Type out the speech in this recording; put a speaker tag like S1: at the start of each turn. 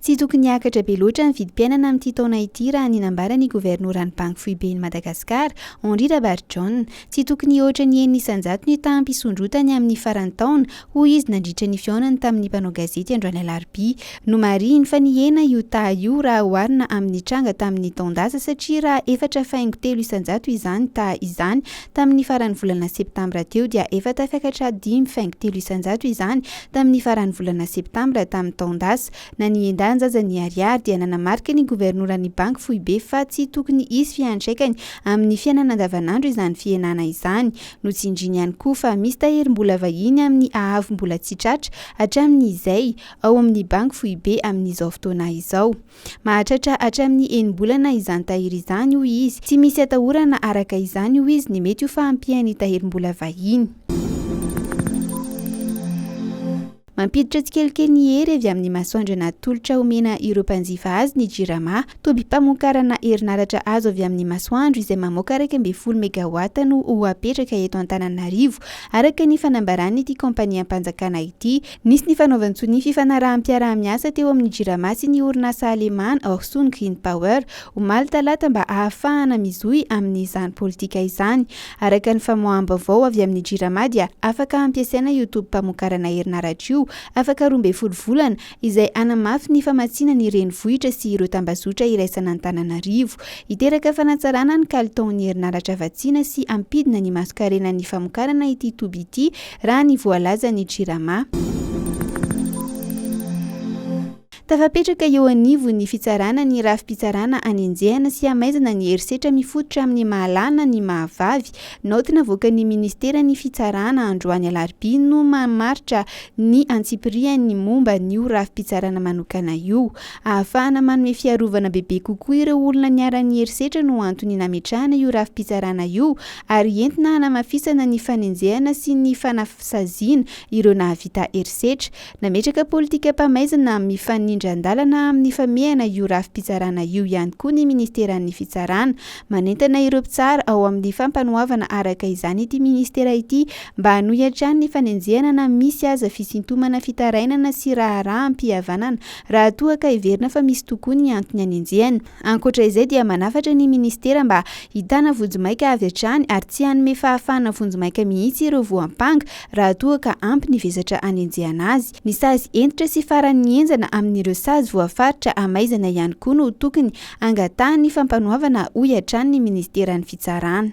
S1: Tsy tokony hiakatra be loatra ny vidim-piainana amin'ity taona ity raha ny nambaran'ny governoran'ny Banky Foiben'i Madagasikara, Henri Rabarijaona. Tsy tokony hihoatra ny enina isan-jato ny taham-pisondrotany amin'ny faran'ny taona, hoy izy nandritra ny fihaonany tamin'ny mpanao gazety androany alarobia. Nomarihiny fa nihena io taha io raha oharina amin'ny tranga tamin'ny taon-dasa satria raha efatra faingo telo isan-jato izany taha izany, Tamin'ny faran'ny volana septambra teo dia efa tafiakatra dimy faingo telo isan-jato izany tamin'ny faran'ny volana septambra tamin'ny taon-dasa. Na ny endahiny aza ny Ariary dia nanamarika ny governoran'ny banky foibe fa tsy tokony hisy fiantraikany amin'ny fiainana andavanandro izany fihenana izany. Notsindriany ihany koa fa misy tahirim-bola vahiny amin'ny haavombola tsy tratra hatramin'izay ao amin'ny banky foibe amin'izao fotoana izao. Mahatratra hatramin'ny enim-bolana izany tahiry izany, hoy izy. Tsy misy atahorana araka izany, hoy izy, ny mety ho fahampian'ny tahirim-bola vahiny. Mampiditra tsikelikely ny hery avy amin'ny masoandro an'atolotra omena ireo mpanjifa azy ny Jirama. Tobim-pamokarana herinaratra azo avy amin'ny masoandro izay mamoaka iraika ambin'ny folo megawatts no ho apetraka eto Antananarivo, araka ny fanambaran'ity kaompaniam-panjakana ity. Nisy ny fanaovan-tsonia fifanaraham-piaraha-miasa teo amin'ny Jirama sy ny orinasa alemàna Orsund Green Power, omaly talata mba ahafahana mizohy amin'izany politika izany. Araka ny famoaham-baovao avy amin'ny Jirama dia afaka hampiasaina io tobim-pamokarana herinaratra io afaka roa ambin'ny folo volana izay hanamafy ny famatsiana ny renivohitra sy ireo tambazotra iraisan'Antananarivo hiteraka fanatsarana ny kalitaon'ny herinaratra vatsiana sy hampidina ny masonkarenan'ny famokarana ity toby ity raha ny voalazan'ny Jirama. Tafapetraka eo anivon'ny fitsarana ny rafi-pitsarana anenjehana sy hamaizana ny herisetra mifototra amin'ny maha-lahy-na ny maha-vavy. Naoty navoakan'ny Ministeran'ny Fitsarana androany alarobia no mamaritra ny antsipiriany momba an'io rafi-pitsarana manokana io. Ahafahana manome fiarovana bebe kokoa ireo olona niharan'ny herisetra no antony nametrahana io rafi-pitsarana io ary entina hanamafisana ny fanenjehana sy ny fanasaziana ireo nahavita herisetra. Nametraka politikam-pamaizana mifanindran-dalana amin'ny famehana io rafi-pitsarana io ihany koa ny Ministeran'ny Fitsarana. Manentana ireo mpitsara ao amin'ny Fampanoavana araka izany ity Ministera ity mba hanohy hatrany ny fanenjehana na misy aza fisintomana fitarainana sy raharaham-pihavanana raha toa ka heverina fa misy tokoa ny antony anenjehana Ankoatra izay dia manafatra ny Ministera mba hitana vonjimaika avy hatrany ary tsy hanome fahafahana vonjimaika mihitsy ireo voampanga raha toa ka ampy ny vesatra anenjehana azy. Ny sazy hentitra sy faran'ny henjana amin'ireo sazy voafaritra hamaizana ihany koa no tokony hangatahan'ny fampanoavana hoy hatrany ny Ministeran'ny Fitsarana.